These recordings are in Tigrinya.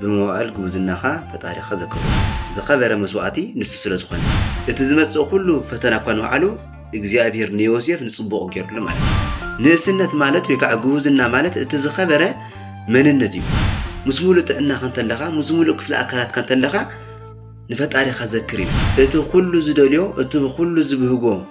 ብመዋእል ጉብዝናኻ ፈጣሪኻ ዘክሮ። ዝኸበረ መስዋእቲ ንሱ ስለ ዝኾነ። እቲ ዝመጽእ ኩሉ ፈተና እኳ ንባዕሉ እግዚኣብሄር ንዮሴፍ ንጽቡቕ ገይሩሉ ማለት እዩ። ንእስነት ማለት ወይ ከዓ ጉብዝና ማለት እቲ ዝኸበረ መንነት እዩ። ምስ ሙሉእ ጥዕናኻ እንተለኻ ምስ ሙሉእ ክፍሊ ኣካላትካ እንተለኻ ንፈጣሪኻ ዘክር እዩ። እቲ ኩሉ ዝደልዮ እቲ ኩሉ ዝብህጎ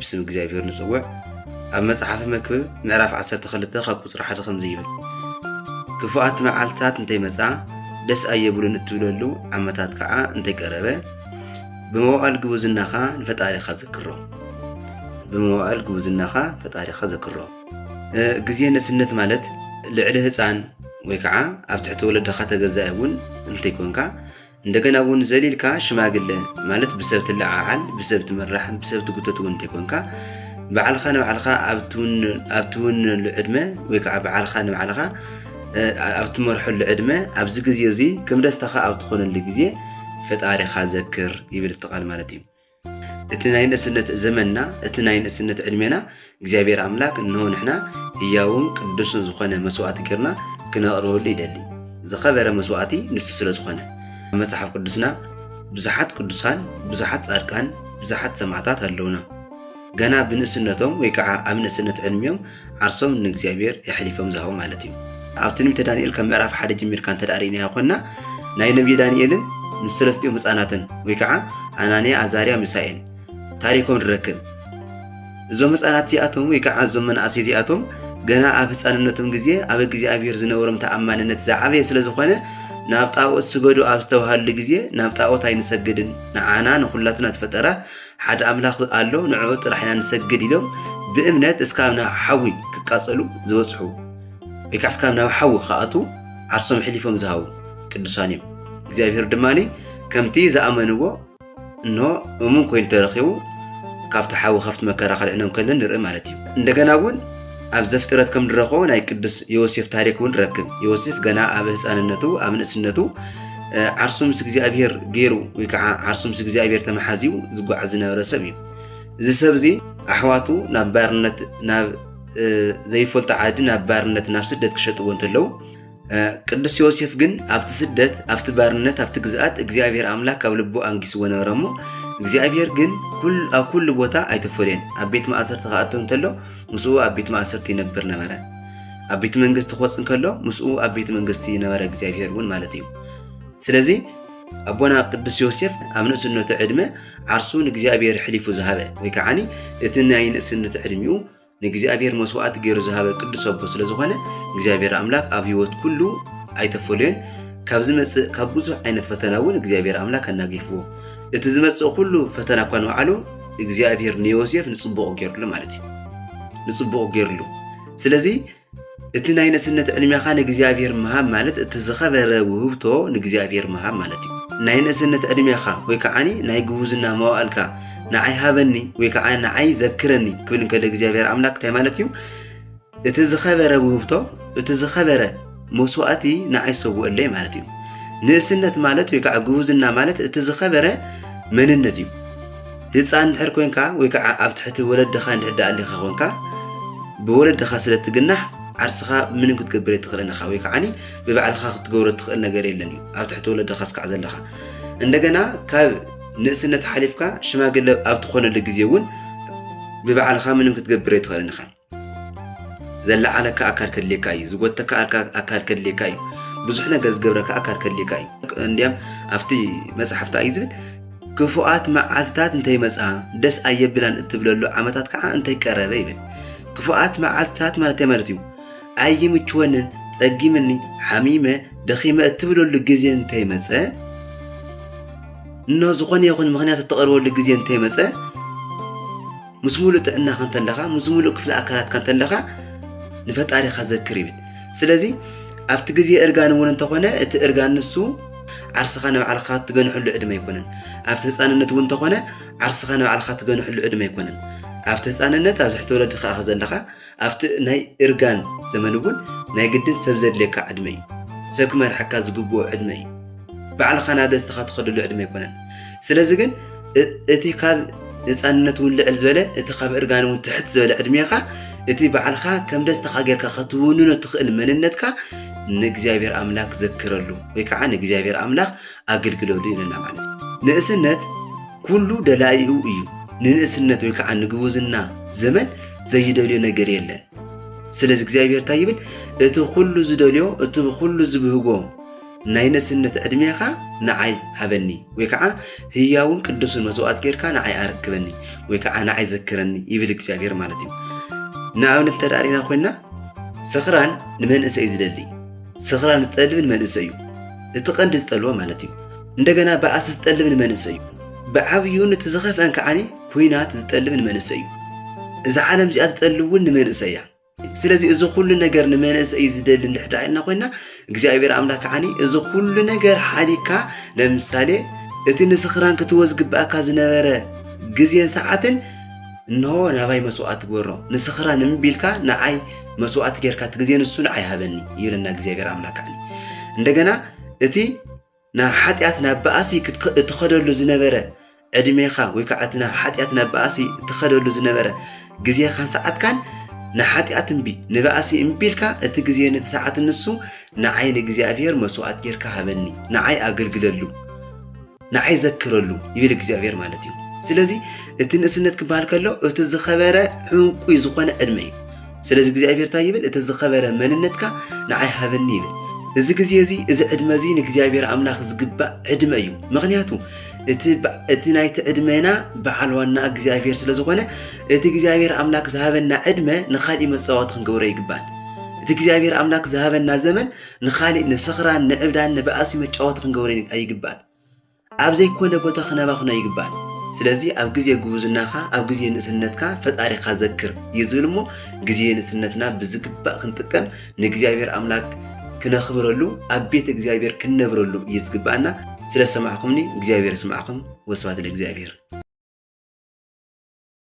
ብስም እግዚኣብሔር ንጽውዕ ኣብ መጽሓፊ መክብብ ምዕራፍ 12 ካብ ቁፅሪ ሓደ ከምዚ ይብል ክፉኣት መዓልትታት እንተይመፃ ደስ ኣየብሉን እትብለሉ ዓመታት ከዓ እንተይቀረበ ብመዋእል ግቡዝናኻ ንፈጣሪኻ ዘክሮ ብመዋእል ግቡዝናኻ ፈጣሪኻ ዘክሮ ግዜ ንእስነት ማለት ልዕሊ ህፃን ወይ ከዓ ኣብ ትሕቲ ወለድኻ ተገዛኢ እውን እንተይኮንካ እንደገና እውን ዘሊልካ ሽማግለ ማለት ብሰብ ትለዓዓል ብሰብ ትምራሕ ብሰብ ትጉተት እውን እንተይኮንካ ባዕልኻ ንባዕልኻ ኣብ ትውንነሉ ዕድመ ወይ ከዓ ባዕልኻ ንባዕልኻ ኣብ ትመርሐሉ ዕድመ ኣብዚ ግዜ እዚ ከም ደስታኻ ኣብ ትኾነሉ ግዜ ፈጣሪኻ ዘክር ይብል እቲ ቃል ማለት እዩ እቲ ናይ ንእስነት ዘመንና እቲ ናይ ንእስነት ዕድሜና እግዚኣብሔር ኣምላክ እንሆ ንሕና ህያውን ቅዱስን ዝኾነ መስዋዕቲ ጌርና ክነቕርበሉ ይደሊ ዝኸበረ መስዋዕቲ ንሱ ስለ ዝኾነ መጽሓፍ ቅዱስና ብዙሓት ቅዱሳን ብዙሓት ጻድቃን ብዙሓት ሰማዕታት ኣለውና ገና ብንእስነቶም ወይ ከዓ ኣብ ንእስነት ዕድሚኦም ዓርሶም ንእግዚኣብሔር የሕሊፎም ዝሃቡ ማለት እዩ። ኣብ ትንቢተ ዳንኤል ካብ ምዕራፍ ሓደ ጀሚርካ እንተ ርእናዮ ኮንና ናይ ነቢይ ዳንኤልን ምስ ሰለስቲኦም ህፃናትን ወይ ከዓ ኣናንያ፣ ኣዛርያ፣ ሚሳኤል ታሪኮም ንረክብ። እዞም ህፃናት እዚኣቶም ወይ ከዓ እዞም መናእሰይ እዚኣቶም ገና ኣብ ህፃንነቶም ግዜ ኣብ እግዚኣብሔር ዝነበሮም ተኣማንነት ዝዓበየ ስለ ዝኾነ ናብ ጣዖት ስገዱ ኣብ ዝተባሃሉ ግዜ ናብ ጣዖት ኣይንሰግድን ንዓና ንኹላትና ዝፈጠረ ሓደ ኣምላኽ ኣሎ ንዕኡ ጥራሕ ኢና ንሰግድ ኢሎም ብእምነት እስካብ ናብ ሓዊ ክቃጸሉ ዝበጽሑ ወይ ከዓ እስካብ ናብ ሓዊ ክኣትዉ ዓርሶም ሕሊፎም ዝሃቡ ቅዱሳን እዮም እግዚኣብሔር ድማ ከምቲ ዝኣመንዎ እኖ እሙን ኮይኑ ተረኪቡ ካብቲ ሓዊ ካብቲ መከራ ከድዕኖም ከለን ንርኢ ማለት እዩ እንደገና እውን ኣብ ዘፍጥረት ከም ንረኽቦ ናይ ቅዱስ ዮሴፍ ታሪክ እውን ረክብ ዮሴፍ ገና ኣብ ህፃንነቱ ኣብ ንእስነቱ ዓርሱ ምስ እግዚኣብሄር ገይሩ ወይ ከዓ ዓርሱ ምስ እግዚኣብሄር ተመሓዝዩ ዝጓዓዝ ዝነበረ ሰብ እዩ እዚ ሰብ እዚ ኣሕዋቱ ናብ ባርነት ናብ ዘይፈልጦ ዓዲ ናብ ባርነት ናብ ስደት ክሸጥዎ እንተለዉ ቅዱስ ዮሴፍ ግን ኣብቲ ስደት ኣብቲ ባርነት ኣብቲ ግዝኣት እግዚኣብሔር ኣምላክ ኣብ ልቡ ኣንጊስዎ ነበረ እሞ እግዚኣብሔር ግን ኣብ ኩሉ ቦታ ኣይተፈልየን ኣብ ቤት ማእሰርቲ ክኣቶ እንተሎ ምስኡ ኣብ ቤት ማእሰርቲ ይነብር ነበረ ኣብ ቤት መንግስቲ ክወፅ እንከሎ ምስኡ ኣብ ቤት መንግስቲ ነበረ እግዚኣብሔር እውን ማለት እዩ ስለዚ ኣቦና ቅዱስ ዮሴፍ ኣብ ንእስነቱ ዕድመ ዓርሱ ንእግዚኣብሔር ሕሊፉ ዝሃበ ወይ ከዓኒ እቲ ናይ ንእስነት ዕድሚኡ ንእግዚኣብሔር መስዋዕቲ ገይሩ ዝሃበ ቅዱስ ኣቦ ስለ ዝኾነ እግዚኣብሔር ኣምላክ ኣብ ህይወት ኩሉ ኣይተፈለዮን ካብ ዝመጽእ ካብ ብዙሕ ዓይነት ፈተና እውን እግዚኣብሔር ኣምላክ ኣናጊፍዎ እቲ ዝመጽእ ኩሉ ፈተና እኳ ንበዓሉ እግዚኣብሔር ንዮሴፍ ንጽቡቕ ገይርሉ ማለት እዩ ንጽቡቕ ገይርሉ ስለዚ እቲ ናይ ነስነት ዕድሜኻ ንእግዚኣብሔር ምሃብ ማለት እቲ ዝኸበረ ውህብቶ ንእግዚኣብሔር ምሃብ ማለት እዩ ናይ ነስነት ዕድሜኻ ወይ ከዓኒ ናይ ግቡዝና መዋእልካ ንዓይ ሃበኒ ወይ ከዓ ንዓይ ዘክረኒ ክብል እንከሎ እግዚኣብሔር ኣምላክ እንታይ ማለት እዩ እቲ ዝኸበረ ውህብቶ እቲ ዝኸበረ መስዋእቲ ንዓይ ሰውእለይ ማለት እዩ ንእስነት ማለት ወይ ከዓ ግቡዝና ማለት እቲ ዝኸበረ መንነት እዩ ህጻን እንድሕር ኮንካ ወይ ከዓ ኣብ ትሕቲ ወለድኻ እንድሕር ኣሊኻ ኮንካ ብወለድኻ ስለ ትግናሕ ዓርስኻ ምንም ክትገብር የትኽእልን ኢኻ ወይ ከዓኒ ብባዕልኻ ክትገብሮ ትኽእል ነገር የለን እዩ ኣብ ትሕቲ ወለድኻ ስካዕ ዘለኻ እንደገና ካብ ንእስነት ሓሊፍካ ሽማግለ ኣብ ትኾነሉ ግዜ እውን ብባዕልኻ ምንም ክትገብር የትኽእልን ኢኻ ዘለዓለካ ኣካል ከድልየካ እዩ ዝጎተካ ኣካል ከድልየካ እዩ ብዙሕ ነገር ዝገብረካ ኣካል ከድልየካ እዩ እንዲያም ኣብቲ መፅሓፍታ እዩ ዝብል ክፉኣት መዓልትታት እንተይመፅኣ ደስ ኣየብላን እትብለሉ ዓመታት ከዓ እንተይቀረበ ይብል ክፉኣት መዓልትታት ማለት እንታይ ማለት እዩ ኣይምችወንን ፀጊምኒ ሓሚመ ደኺመ እትብለሉ ግዜ እንተይመፀ እኖ ዝኾነ ይኹን ምክንያት እተቐርበሉ ግዜ እንተይመፀ ምስ ሙሉእ ጥዕናኻ እንተለኻ ምስ ሙሉእ ክፍሊ ኣካላትካ እንተለኻ ንፈጣሪኻ ዘክር ይብል ስለዚ ኣብቲ ግዜ እርጋን እውን እንተኾነ እቲ እርጋን ንሱ ዓርስኻ ንባዕልኻ ትገንሐሉ ዕድመ ኣይኮነን ኣብቲ ህፃንነት እውን እንተኾነ ዓርስኻ ንባዕልኻ ትገንሐሉ ዕድመ ኣይኮነን ኣብቲ ህፃንነት ኣብ ትሕቲ ወለድኻ ኢኻ ዘለኻ ኣብቲ ናይ እርጋን ዘመን እውን ናይ ግድን ሰብ ዘድልየካ ዕድመ እዩ። ሰብ ክመርሓካ ዝግብኦ ዕድመ እዩ። ባዕልኻ ናብ ደስታኻ ትኸደሉ ዕድመ ኣይኮነን። ስለዚ ግን እቲ ካብ ህፃንነት እውን ልዕል ዝበለ እቲ ካብ እርጋን እውን ትሕት ዝበለ ዕድሜኻ እቲ ባዕልካ ከም ደስታኻ ጌርካ ከትውንኖ ትኽእል መንነትካ ንእግዚኣብሔር ኣምላክ ዘክረሉ ወይ ከዓ ንእግዚኣብሔር ኣምላክ ኣግልግለሉ ኢለና ማለት እዩ ንእስነት ኩሉ ደላይኡ እዩ ንንእስነት ወይ ከዓ ንግቡዝና ዘመን ዘይደልዮ ነገር የለን ስለዚ እግዚኣብሔር እንታይ ይብል እቲ ኩሉ ዝደልዮ እቲ ኩሉ ዝብህጎ ናይ ንእስነት ዕድሜኻ ንዓይ ሃበኒ ወይ ከዓ ህያውን ቅዱስን መስዋእት ጌርካ ንዓይ ኣረክበኒ ወይ ከዓ ንዓይ ዘክረኒ ይብል እግዚኣብሔር ማለት እዩ ንኣብነት እንተዳሪና ኮይና ስኽራን ንመንእሰይ ዝደሊ ስኽራን ዝጠልብን መንእሰይ እዩ እቲ ቀንዲ ዝጠልቦ ማለት እዩ እንደገና በኣስ ዝጠልብን መንእሰይ እዩ ብዓብዩን እቲ ዝኸፍአን ከዓኒ ኩናት ዝጠልብን መንእሰይ እዩ እዛ ዓለም እዚኣ ትጠልብ እውን ንመንእሰይ እያ ስለዚ እዚ ኩሉ ነገር ንመንእሰይ ዝደሊ እንድሕዳ ኢልና ኮይና እግዚኣብሔር ኣምላክ ከዓኒ እዚ ኩሉ ነገር ሓዲካ ለምሳሌ እቲ ንስኽራን ክትወዝ ግብኣካ ዝነበረ ግዜን ሰዓትን እንሆ ናባይ መስዋእቲ ግበሮ፣ ንስኽራን እምቢ ቢልካ ንዓይ መስዋእቲ ጌርካ እቲ ግዜ ንሱ ንዓይ ሃበኒ ይብለና እግዚኣብሔር ኣምላክ ዓሊ እንደገና እቲ ናብ ሓጢኣት ናብ በኣሲ እትኸደሉ ዝነበረ ዕድሜኻ ወይ ከዓ እቲ ናብ ሓጢኣት ናብ በኣሲ እትኸደሉ ዝነበረ ግዜኻን ሰዓትካን ንሓጢኣት እምቢ ንባእሲ እምቢ ኢልካ እቲ ግዜ ነቲ ሰዓት ንሱ ንዓይ ንእግዚኣብሔር መስዋእት ጌርካ ሃበኒ ንዓይ ኣገልግለሉ ንዓይ ዘክረሉ ይብል እግዚኣብሔር ማለት እዩ ስለዚ እቲ ንእስነት ክበሃል ከሎ እቲ ዝኸበረ ዕንቁ ዝኾነ ዕድመ እዩ ስለዚ እግዚኣብሔር እንታይ ይብል እቲ ዝኸበረ መንነትካ ንዓይ ሃበኒ ይብል እዚ ግዜ እዚ እዚ ዕድመ እዚ ንእግዚኣብሔር ኣምላኽ ዝግባእ ዕድመ እዩ ምክንያቱ እቲ ናይቲ ዕድመና በዓል ዋና እግዚኣብሔር ስለ ዝኾነ እቲ እግዚኣብሔር ኣምላክ ዝሃበና ዕድመ ንካሊእ መፃወቲ ክንገብሮ ይግባል እቲ እግዚኣብሔር ኣምላክ ዝሃበና ዘመን ንኻሊእ ንስኽራን ንዕብዳን ንባእሲ መጫወቲ ክንገብሮ ኣይግባእን። ኣብ ዘይኮነ ቦታ ክነባኽኖ ኣይግባእን። ስለዚ ኣብ ግዜ ጉብዝናኻ ኣብ ግዜ ንእስነትካ ፈጣሪኻ ዘክር እዩ ዝብል እሞ ግዜ ንእስነትና ብዝግባእ ክንጥቀም ንእግዚኣብሔር ኣምላክ ክነኽብረሉ ኣብ ቤት እግዚኣብሔር ክንነብረሉ እዩ ዝግባእና። ስለሰማዕኹምኒ እግዚኣብሔር ስማዕኹም ወስብሐት ለእግዚኣብሔር።